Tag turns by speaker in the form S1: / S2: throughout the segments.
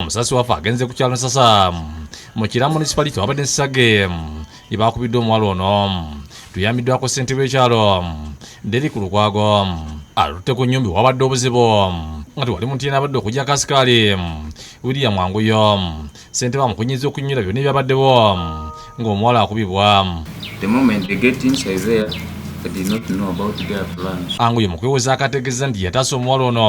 S1: omusasi wafe agenze ku kyalo nsasa mu kira municipality wabadde nsage yebakubiddwa omuwala ono tuyambiddwako ssentebe ekyalo deri ku lukwago alutte ku nyumbi wabadde obuzibu nga tewali muntu yena abadde okujja kasikaali william wanguyo ssentebe amukunyiza okunyira byonna ebyabaddewo ng'omuwala akubibwa
S2: anguyo mu kwewoza
S1: akategeeza nti yataasa omuwala ono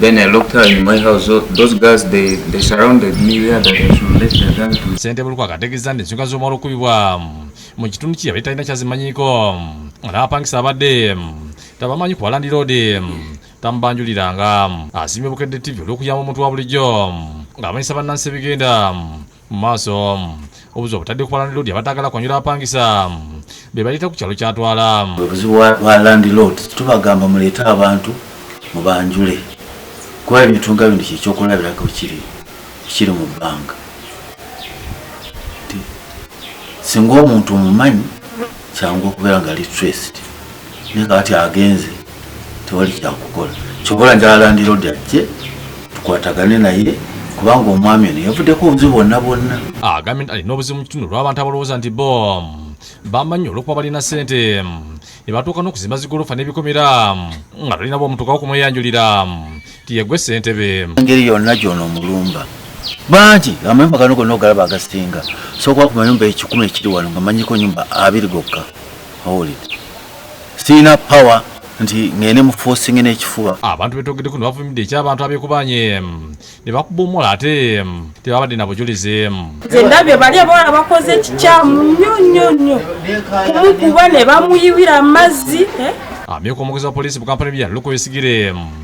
S2: Then I looked her in my house. So those guys, they, they surrounded me where that I should let the gun to. Sente buluko akategeza nti
S1: ensonga z'omwalo okubibwa mu kitundu kye yabadde talina kyazimanyiiko n'abapangisa abadde tabamanyi ku balandiroodi tamubanjuliranga asiimye bukedde ttivi olw'okuyamba omuntu wa bulijjo ng'amanyisa bannansi ebigenda mu maaso obuzibu obutadde ku balandiloodi abataagala kwanyula bapangisa be baleeta ku kyalo kyatwala obuzibu bwa
S3: landilood tubagamba muleete abantu mubanjule kuba ebintu nga bino kyekyokulabirako kiri kiri mu bbanga singa omuntu omumanyi kyangu okubeera nga litraced naye kati agenze tewali kyakukola kyobola njala landirodi ajje tukwatagane naye kubanga omwami ono yavuddeko obuzibu bwonna bwonna agambye nti alina
S1: obuzibu mu kitundu olw'abantu abalowooza nti bo bamanyi olwokuba balina sente ne batuuka n'okuzimba zigolofa n'ebikomera nga talina bwomutuukawo kumweyanjulira yegwe sentebe engeri yonna gyona
S3: omulumba bangi amayumba gano gonna ogalaba agasinga sokuba ku mayumba ekikumi ekiri wano nga manyiko nyumba abiri gokka owulire sirina power nti ngende mufosinge n'ekifuba abantu betogedeko
S1: nebavumidde ekyabantu abekubanye ne bakuba omuwala ate tebabadde na bujulizi nze ndabye bali
S4: abawala bakoze ekikyamu nnyo nnyo nnyo kumukuba ne bamuyiwira amazzi eh? amyuka omwogezi
S1: wa poliisi mu kampala ebyalo lukoyesigire